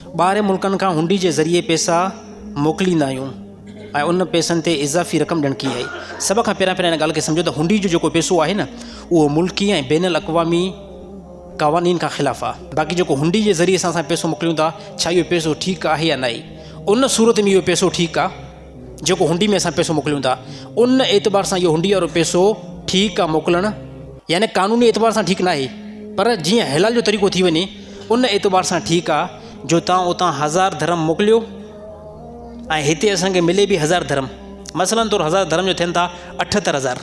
ٻاهرين ملڪن کان هنڊي جي ذريعي پيسا موڪليندا آهيون ۽ ان پيسن تي اضافي رقم ڏيڻ ڪي آهي. سڀ کان پهريان پهريان ان ڳالهه کي سمجهو ته هنڊي جو جيڪو پيسو آهي نه اهو ملڪي ۽ بين الاقوامي قوانين کان خلاف آهي. باقي جيڪو هنڊي جي ذريعي سان اسان پيسو موڪليون ٿا ڇا اهو پيسو ٺيڪ آهي يا ناهي؟ ان صورت ۾ اهو پيسو ٺيڪ آهي. جيڪو هنڊي ۾ اسان پيسو موڪليون ٿا ان اعتبار سان اهو هنڊي وارو پيسو ٺيڪ آ موڪلڻ يعني قانوني اعتبار سان ٺيڪ ناهي پر جيئن حلال جو طريقو ٿي وڃي ان اعتبار سان ٺيڪ آ جو تان اتان هزار درهم موڪليو ۽ هتي اسان کي ملي به هزار درهم مثلاً طور هزار درهم جو ٿين ٿا اٺهتر هزار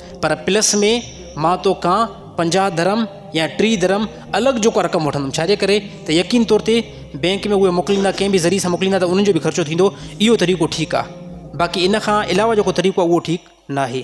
پر پلس ۾ مان تو کان پنجاهه درهم يا ٽيهه درهم الڳ جيڪو رقم وٺندم ڇاجي ڪري ته يقين طور تي بينڪ ۾ اهي موڪليندا ڪنهن به ذريعي سان موڪليندا ته انهن جو به خرچو ٿيندو اهو طريقو ٺيڪ آهي باقي ان کان علاوه جيڪو طريقو آهي اهو ٺيڪ ناهي